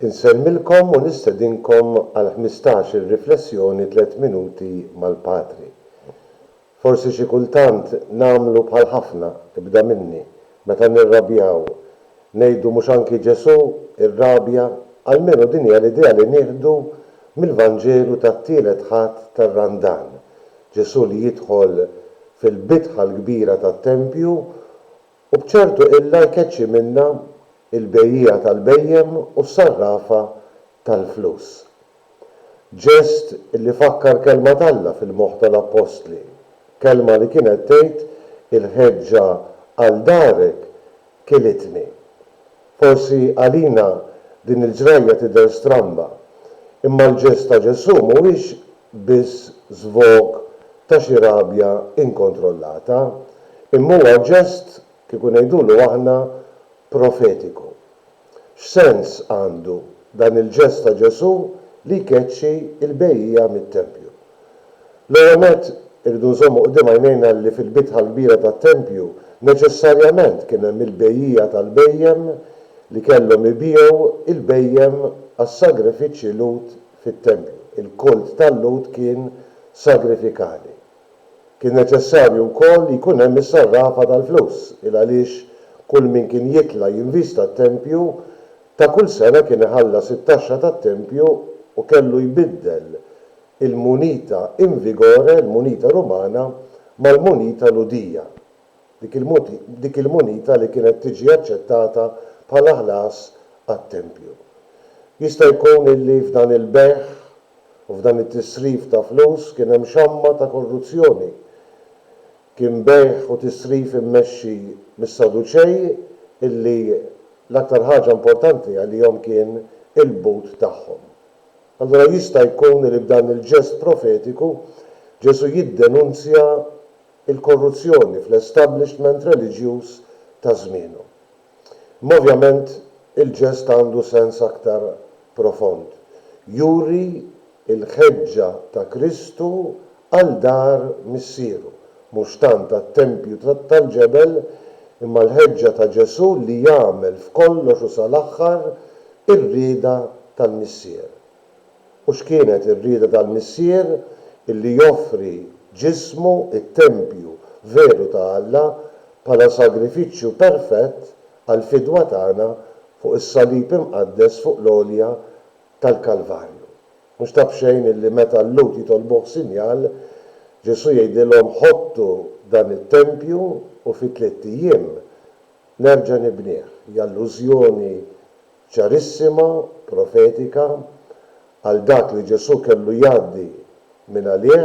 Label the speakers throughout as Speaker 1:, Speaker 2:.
Speaker 1: Insemmilkom u nistedinkom għal ħmistax-il riflessjoni tliet minuti mal-Patri. Forsi xi kultant nagħmlu bħal ħafna, ibda minni, meta nirrabjaw, ngħidu mhux anki Ġesù irrabja, almenu din hija l-idea li nieħdu mill-Vanġelu tat-Tielet Ħadd tar-Randan, Ġesù li jidħol fil-bitħa l-kbira tat-tempju U b'ċertu illa jkeċċi minnha l-bejjiegħa tal-bhejjem u s-sarrafa tal-flus. Ġest li fakkar kelma t'Alla fil-moħħ tal-appostli, kelma li kienet tgħid, Il-ħeġġa għal darek kilitni. Forsi għalina din il-ġrajja tidher stramba, imma l-ġest ta' Ġesù mhuwiex biss żvog ta' xi rabja inkontrollata, imma huwa ġest, kieku ngħidulu aħna, profetiku. X'sens għandu dan il-ġest ta' Ġesù li jkeċċi l-bejjiegħa mit-tempju? L-ewwel nett, irridu nżommu quddiem għajnejna li fil-bitħa l-kbira tat-tempju neċessarjament kien hemm il-bejjiegħa tal-bhejjem li kellhom ibiegħu l-bhejjem għas-sagrifiċċji Lhud fit-tempju. Il-kult tal-Lhud kien sagrifikali. Kien neċessarju wkoll li jkun hemm is-sarrafa tal-flus, il għaliex kull min kien jitla' jinvista t-tempju ta' kull sena kien iħallas it-taxxa tat-tempju u kellu jbiddel il-munita in vigore, il-munita Rumana, mal-munita Lhudija, dik il-munita li kienet tiġi aċċettata bħala ħlas għat-tempju. Jista' jkun illi f'dan il-bejgħ u f'dan it-tisrif ta' flus kien hemm xamma ta' korruzzjoni. Kien bejgħ u tisrif immexxi mis-Saduċej illi l-aktar ħaġa importanti għalihom kien il-but tagħhom, Allura jista' jkun li b'dan il-ġest profetiku Ġesù jiddenunzja l-korruzzjoni fl-establishment reliġjuż ta' żmienu. Imma ovvjament il-ġest għandu sens aktar profond. Juri l-ħeġġa ta' Kristu għal dar Missieru, mhux tant għat-tempju tal-ġebel, imma l-ħeġġa ta' Ġesù li jagħmel f'kollox u sal-aħħar Ir-rieda tal-Missier. U x'kienet ir-rieda tal-Missier? Illi joffri ġismu, it-tempju veru ta' Alla, bħala sagrifiċċju perfett għall-fidwa tagħna fuq is-salib imqaddes fuq l-għolja tal-Kalvarju. Mhux ta' b'xejn illi meta l-Lhud jitolbuh sinjal, Ġesù jgħidilhom ħottu dan it-tempju u fi tliet ijiem Nerġa' nibnih, hi allużjoni ċarissima, profetika, għal dak li Ġesù kellu jgħaddi mingħalih,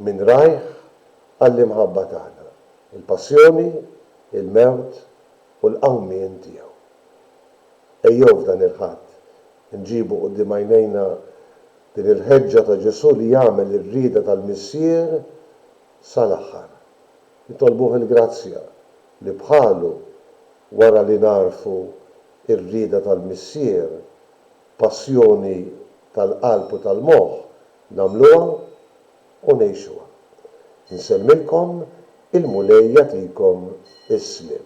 Speaker 1: minn rajh, għall-imħabba tagħna, il-passjoni, il-mewt u l-qawmien tiegħu. Ejjew f'dan il-Ħadd inġibu quddiem għajnejna din il-ħeġġa ta' Ġesù li jagħmel ir-rieda tal-Missier sal-aħħar. Nitolbuh il-grazzja li bħalu, wara li nagħrfu r-rieda tal-Missier, passjoni tal-qalb u tal-moħħ, nagħmluha u ngħixuha. Insellmilkom, il-Mulej jagħtikom is-sliem.